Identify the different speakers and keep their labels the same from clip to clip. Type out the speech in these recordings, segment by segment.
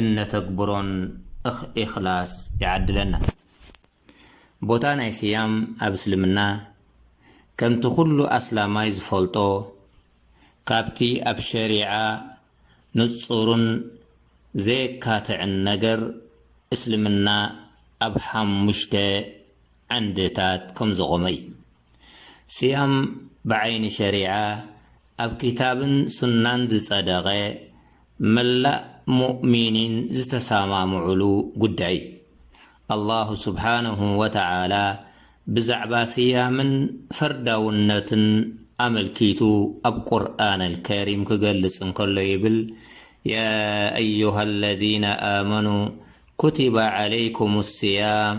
Speaker 1: እነተግብሮን እኽ ኢኽላስ ይዓድለና። ቦታ ናይ ስያም ኣብ እስልምና ከምቲ ኩሉ ኣስላማይ ዝፈልጦ ካብቲ ኣብ ሸሪዓ ንጹርን ዘየካትዕን ነገር እስልምና ኣብ ሓሙሽተ ዓንድታት ከምዘቖመ እዩ። ሲያም ብዓይኒ ሸሪዓ ኣብ ክታብን ሱናን ዝጸደቐ መላእ ሙእሚኒን ዝተሰማምዑሉ ጉዳይ እዩ። ኣላሁ ሱብሓነሁ ወተዓላ ብዛዕባ ሲያምን ፈርዳውነቱን ኣመልኪቱ ኣብ ቁርኣነል ከሪም ክገልጽ እንከሎ ይብል፣ ያ ኣዩሃለዚነ ኣመኑ ኩቲበ ዓለይኩሙስ ሲያም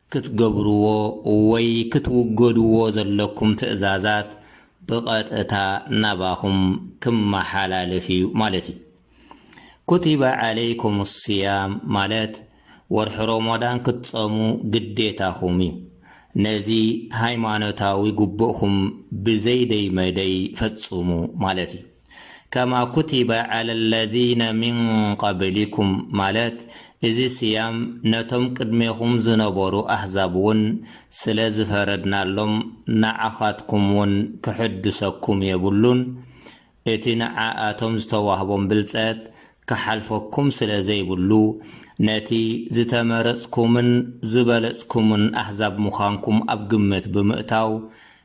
Speaker 1: ክትገብርዎ ወይ ክትውገድዎ ዘለኩም ትእዛዛት ብቐጥታ ናባኹም ክመሓላለፍ እዩ ማለት እዩ። ኩቲበ ዓለይኩም ስያም ማለት ወርሒ ሮሞዳን ክትጸሙ ግዴታኹም እዩ። ነዚ ሃይማኖታዊ ጉቡእኩም ብዘይደይ መደይ ፈጽሙ ማለት እዩ። ከማ ኩቲበ ዐለ ለዚነ ሚን ቀብሊኩም ማለት እዚ ስያም ነቶም ቅድሜኹም ዝነበሩ ኣህዛብውን ስለ ዝፈረድናሎም ንዓኻትኩምውን ክሕድሰኩም የብሉን፣ እቲ ንዓኣቶም ዝተዋህቦም ብልጸት ክሓልፈኩም ስለ ዘይብሉ ነቲ ዝተመረጽኩምን ዝበለጽኩምን ኣህዛብ ምዃንኩም ኣብ ግምት ብምእታው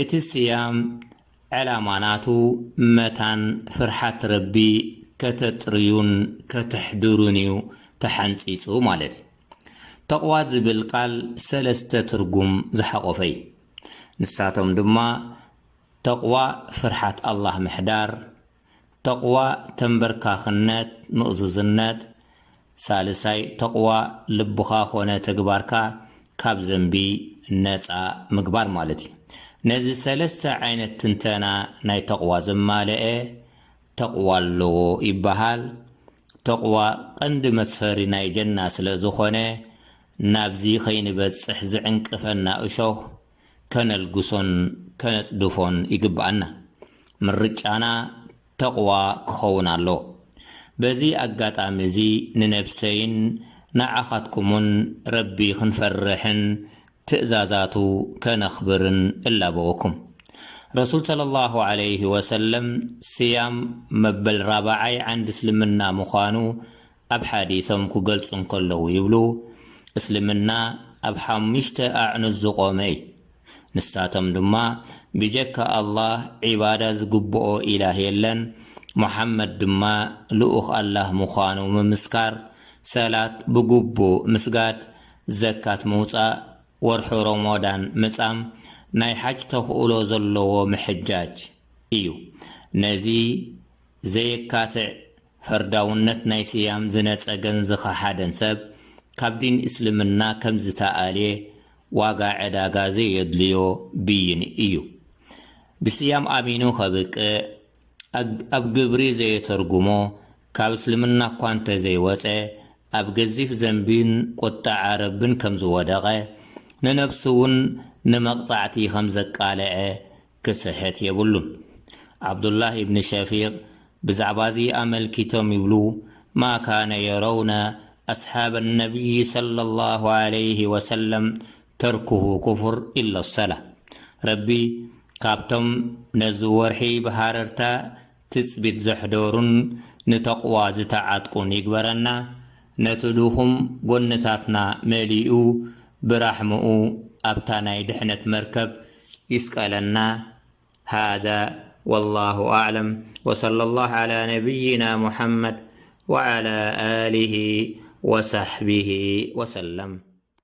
Speaker 1: እቲ ስያም ዕላማ ናቱ መታን ፍርሓት ረቢ ከተጥርዩን ከተሕድሩን እዩ ተሓንጺጹ ማለት እዩ። ተቕዋ ዝብል ቃል ሰለስተ ትርጉም ዝሓቖፈ እዩ። ንሳቶም ድማ፣ ተቕዋ ፍርሓት ኣላህ ምሕዳር፣ ተቕዋ ተምበርካኽነት፣ ምእዙዝነት፣ ሳልሳይ ተቕዋ ልብኻ ኮነ ተግባርካ ካብ ዘንቢ ነጻ ምግባር ማለት እዩ። ነዚ ሰለስተ ዓይነት ትንተና ናይ ተቕዋ ዘማለኤ ተቕዋ ኣለዎ ይበሃል። ተቕዋ ቀንዲ መስፈሪ ናይ ጀና ስለዝኾነ ናብዚ ከይንበጽሕ ዝዕንቅፈና እሾኽ ከነልግሶን ከነጽድፎን ይግብኣና። ምርጫና ተቕዋ ክኸውን ኣለዎ። በዚ ኣጋጣሚ እዚ ንነብሰይን ንዓኻትኩሙን ረቢ ክንፈርሕን ትእዛዛቱ ከነኽብርን እላበወኩም። ረሱል ሰለላሁ ዓለይሂ ወሰለም ስያም መበል ራብዓይ ዓንዲ እስልምና ምዃኑ ኣብ ሓዲሶም ክገልጹ እንከለዉ ይብሉ፣ እስልምና ኣብ ሓሙሽተ ኣዕኑድ ዝቖመ እዩ። ንሳቶም ድማ፣ ብጀካ ኣላህ ዒባዳ ዝግብኦ ኢላህ የለን፣ ሙሓመድ ድማ ልኡኽ ኣላህ ምዃኑ ምምስካር፣ ሰላት ብግቡእ ምስጋድ፣ ዘካት ምውጻእ፣ ወርሒ ሮሞዳን ምጻም፣ ናይ ሓጅ ተኽእሎ ዘለዎ ምሕጃጅ እዩ። ነዚ ዘየካትዕ ፈርዳውነት ናይ ስያም ዝነጸገን ዝኸሓደን ሰብ ካብ ዲን እስልምና ከም ዝተኣልየ ዋጋ ዕዳጋ ዘየድልዮ ብይን እዩ። ብስያም ኣሚኑ ከብቅዕ ኣግ ኣብ ግብሪ ዘየተርጉሞ ካብ እስልምና እኳ እንተ ዘይወጸ ኣብ ገዚፍ ዘንቢን ቁጠዓ ረብን ከም ዝወደቐ ንነብሱ ውን ንመቕጻዕቲ ከም ዘቃለዐ ክስሕት የብሉን። ዓብዱላህ ኢብን ሸፊቅ ብዛዕባ'ዚ ኣመልኪቶም ይብሉ፣ ማ ካነ የረውነ ኣስሓበ ነብይ ሰለላሁ ዓለይሂ ወሰለም ተርኩሁ ኩፍር ኢለሶላህ። ረቢ ካብቶም ነዚ ወርሒ ብሃረርታ ትጽቢት ዘሕደሩን ንተቕዋ ዝተዓጥቁን ይግበረና፣ ነቲ ድኹም ጎንታትና መሊኡ ብራሕምኡ ኣብታ ናይ ድሕነት መርከብ ይስቀለና ሃዛ ወላሁ ኣዕለም ወሰለላህ ዓላ ነብይና ሙሓመድ ወዓላ ኣሊሂ ወሳሕቢሂ ወሰለም።